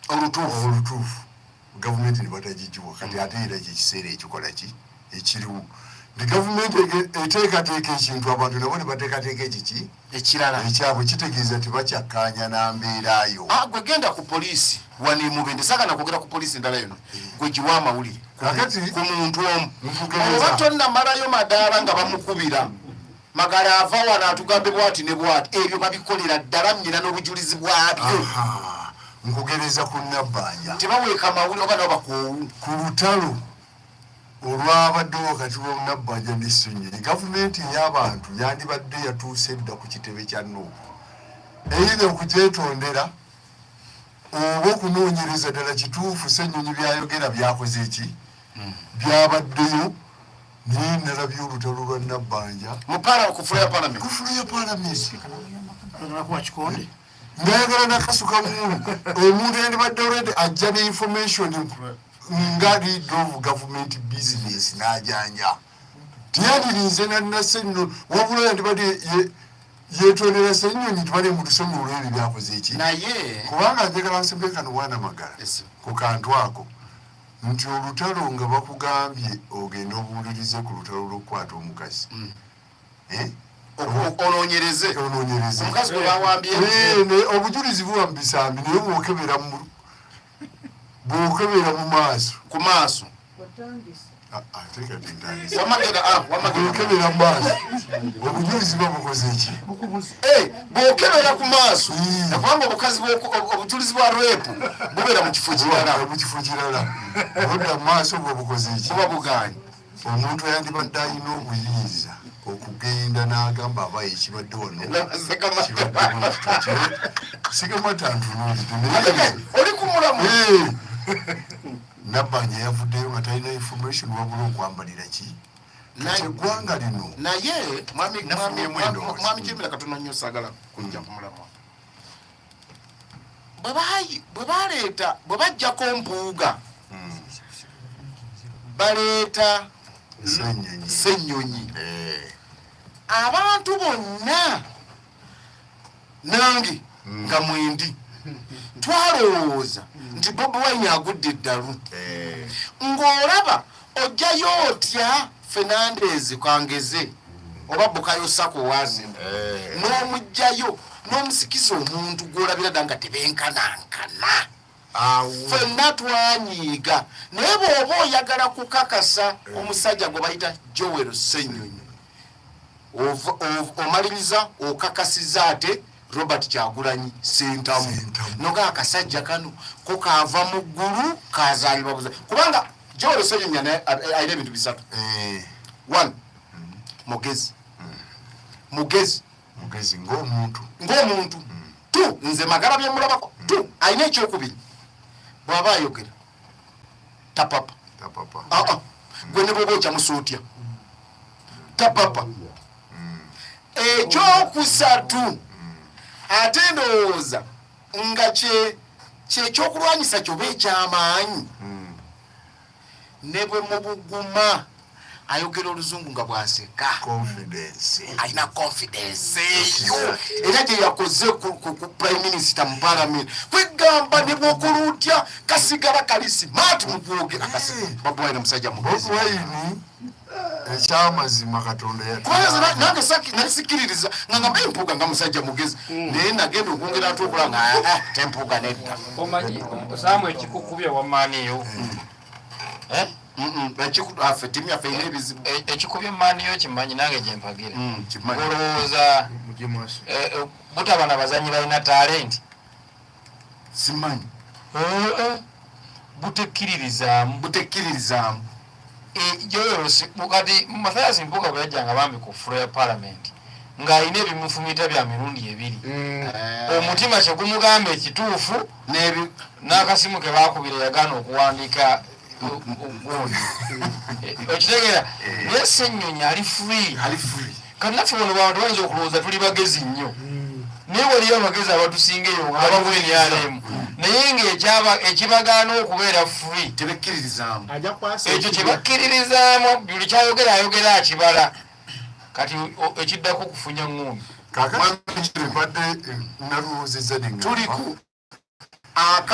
olutuufu olutuufu gavumenti nebatagigiwa kati ate era kyekiseera ekikola ki ekiriwo nti gavumenti eteekateeka ekintu abantu nabo nebateekateeka ekiki ekirala ekyabwe kitegeeza tebakyakkaanya na mbeera yo ah, gwe genda ku poliisi wano emubende sagana kwogera ku poliisi endala yona eh. gwe giwa amawulire ku muntu omu oba tonnamalayo madaala nga bamukubira Magala ava wano atugambe bwati ne bwati ebyo babikolera ddala nnyina n'obujulizi bwabyo. Nkugereza ku Nabbanja. Tebaweeka mawuli oba nabo bakoowu. Ku lutalo olwabadde wakati wa Nabbanja ne Ssenyonyi, gavumenti ey'abantu yandibadde yatuuse dda ku kitebe kya Nuupu. Eyina okugyetondera oba okunoonyereza ddala kituufu Ssenyonyi by'ayogera byakoze ki byabaddeyo naye nalabye olutalo lwa nabbanja kufula ya palamenti ndayagala nakasuka mulu omuntu yandibadde olwedde ajja ne information nga lead of government business najanja tiyadirinze nanase nno wabula yandibadde yetondera senyonyi tubale mutusonyi olwebyo byakoze eki kubanga njagala nsembekano bwana magala ku kantu ako nti olutalo nga bakugambye ogende obuulirize ku lutalo lw'okukwata omukazi mm. eh? ononyereze ononyereze omukazi gwe bawambye eh, obujulizi buba mu bisambi naye bwokebera mu bwokebera mu maaso ku maaso ah, ah, ah, wamagera mu maaso obujulizi buba bukoze ki eh! bwokebera ku maaso hmm. nakubanga obukazi obujulizi bwa repu bubeera mu kifo kirala mu kifo kirala obudda mu maaso bwe bukoze eki buba buganye omuntu yandibadde alina obuyinza okugenda n'agamba aba ekibadde wano sigamataantunulioli ku mulamu nabbanja yavuddeyo nga talina information wabula okwambalira ki eggwanga lino naye mwami kirumira katono nnyo sagala kujja kumulamwa bwe baleeta bwe bajjako mpuuga hmm. baleeta ssenyonyi eh. abantu bonna nange mm. nga mwendi twalowooza mm. nti bobi wine agudde eddalu eh. ng'olaba ojjayo otya fernandez kwangeze mm. oba bukayo sako wazina eh. n'omugjayo n'omusikiza omuntu gw'olabira dda nga tebenkanankana fenna twanyiiga naye bwoba oyagala kukakasa eh. omusajja gwe bayita joel senyonyi omaliriza okakasiza ate robert kyagulanyi sentamu noga akasajja kano ko kava mu ggulu kazalibwa buza kubanga joel senyonyi alina ebintu bisatu eh. one mm. mugezi mm. mugezi mugezi ng'omuntu ng'omuntu hmm. tu nze magala bye mulabako hmm. tu alina ekyokubiri bw'aba ayogera tapapa ah, ah. hmm. gwe ne bwoba okyamusa otya tapapa ekyokusatu ate ndowooza nga kyekyokulwanyisa kyoba ekyamaanyi ne bwe mubuguma ayogera oluzungu nga bwaseka alina confidence eyo era gye yakoze ku prime minister mu palamenti kwegamba ne bwokola otya kasigala kali simaati mu kwogera kasi babwaina musajja mugezi ekyamazima katonda nange nali sikiririza nga ngamba empuuga nga musajja mugezi hmm. naye nagenda okwongera ate okula nga ah, ah, tempuuga nedda omanyi osamu ekikukubya wamaaniyo hmm. eh? afe timu yaffe erina ebizibu e, ekikubya emaaniyo kimanyi nange gyempagira hmm, olowooza eh, eh, butaba na bazanyi balina talenti simanyi butekkiririzaamu butekkiririzaamu joyosi e, kati mathias mpuga bwe yajjanga bambi ku fulo ya palamenti ng'alina ebimufumita bya mirundi ebiri mm. eh. omutima kyegumugamba ekituufu n'akasimu ke bakubira yagaana okuwandiika okitegeera naye senyonyi ali free kanaffe wano bantu bayinza okulowooza tuli bagezi nnyo hmm. naye waliyo abagezi abatusinga eyo ngabawa ebyalemu naye nga ekibagaana okubeera free tebekkiririzaamu ekyo kyebakkiririzaamu buli kyayogera ayogera akibala kati ekiddako okufunya ng'ono kakati mbadde eh, naluwuziza nenga tuliku